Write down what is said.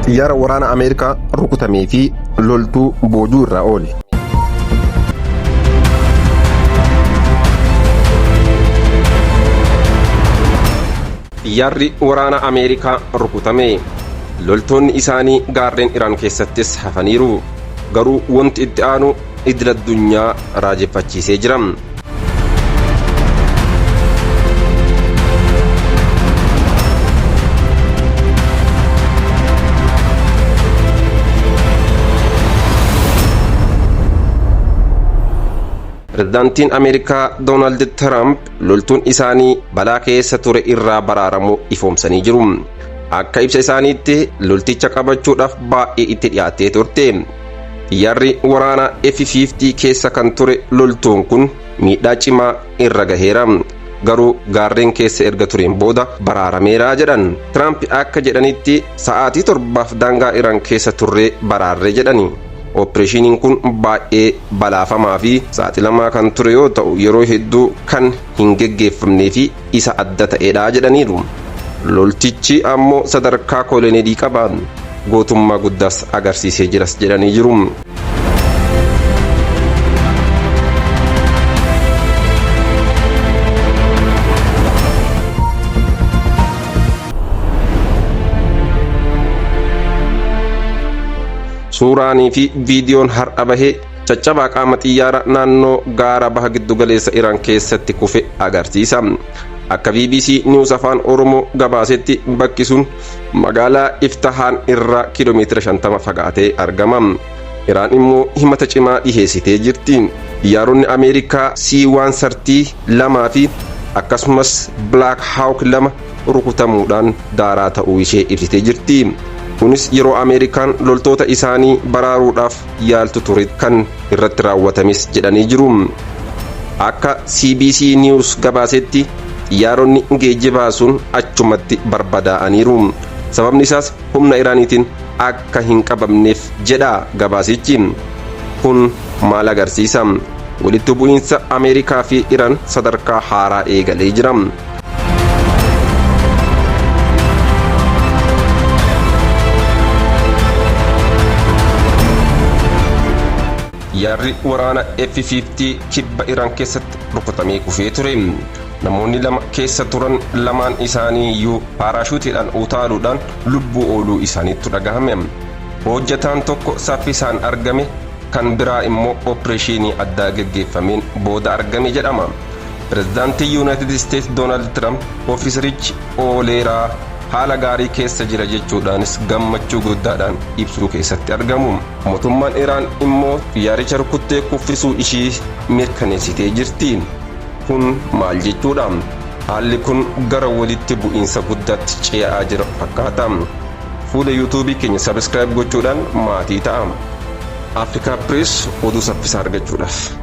Xiyyaara waraana Ameerikaa rukutamee fi loltuu boojuu irraa oole. Xiyyaarri waraana Ameerikaa rukutame. Loltoonni isaanii gaarreen Iraan keessattis hafaniiru. Garuu wanti itti aanu idil addunyaa raajeffachiisee jira. Pirezidaantiin Ameerikaa Doonaald Tiraamp loltuun isaanii balaa keessa ture irraa baraaramuu ifoomsanii jiru. Akka ibsa isaaniitti lolticha qabachuudhaaf baay'ee itti dhiyaattee turte. Xiyyaarri waraanaa F-50 keessa kan ture loltuun kun miidhaa cimaa irra gaheera. Garuu gaarreen keessa erga tureen booda baraarameera jedhan. Tiraamp akka jedhanitti sa'aatii torbaaf daangaa Iraan keessa turree baraarre jedhani. Oppireeshiniin kun baay'ee balaafamaa fi saaxilamaa kan ture yoo ta'u yeroo hedduu kan hin geggeeffamnee fi isa adda ta'edha jedhaniiru. Loltichi ammoo sadarkaa kooleneelii qaba. Gootummaa guddaas agarsiisee jiras jedhanii jiru. Suuraanii fi viidiyoon har'a bahe Caccabaa qaama xiyyaara naannoo gaara baha giddugaleessa Iraan keessatti kufe agarsiisa. Akka BBC News Afaan Oromoo gabaasetti bakki sun magaalaa Iftahaan irraa kiiloomeetira 50 fagaatee argama. Iraan immoo himata cimaa dhiheessitee jirti. Xiyyaaronni Ameerikaa C-130 fi akkasumas Black Hawk 2 rukutamuudhaan daaraa ta'uu ishee ibsitee jirti. Kunis yeroo Ameerikaan loltoota isaanii baraaruudhaaf yaaltu ture kan irratti raawwatames jedhanii jiru. Akka CBC News gabaasetti xiyyaaronni geejjibaa sun achumatti barbadaa'aniiru. Sababni isaas humna Iraaniitiin akka hin qabamneef jedha gabaasichi. Kun maal agarsiisa? Walitti bu'iinsa Ameerikaa fi Iraan sadarkaa haaraa eegalee jira. Yaadri waraana F-50 kibba Iraan keessatti rukutamee kufee ture. Namoonni lama keessa turan lamaan isaanii iyyuu paaraashuutiidhaan utaaluudhaan lubbuu ooluu isaaniitu dhagahame. Hojjetaan tokko saffisaan argame kan biraa immoo opereeshinii addaa gaggeeffameen booda argame jedhama. Pirezidaantiin Yuunaayitid Isteets Doonaald Tiraamp ofiiserichi ooleeraa haala gaarii keessa jira jechuudhaanis gammachuu guddaadhaan ibsuu keessatti argamu. Motummaan Iraan immoo xiyyaaricha rukuttee kuffisuu ishii mirkaneessitee jirti. Kun maal jechuudha? Haalli kun gara walitti bu'iinsa guddaatti cee'aa jira fakkaata. Fuula YouTube keenya subscribe gochuudhaan maatii ta'a. Africa Press oduu saffisaa argachuudhaaf.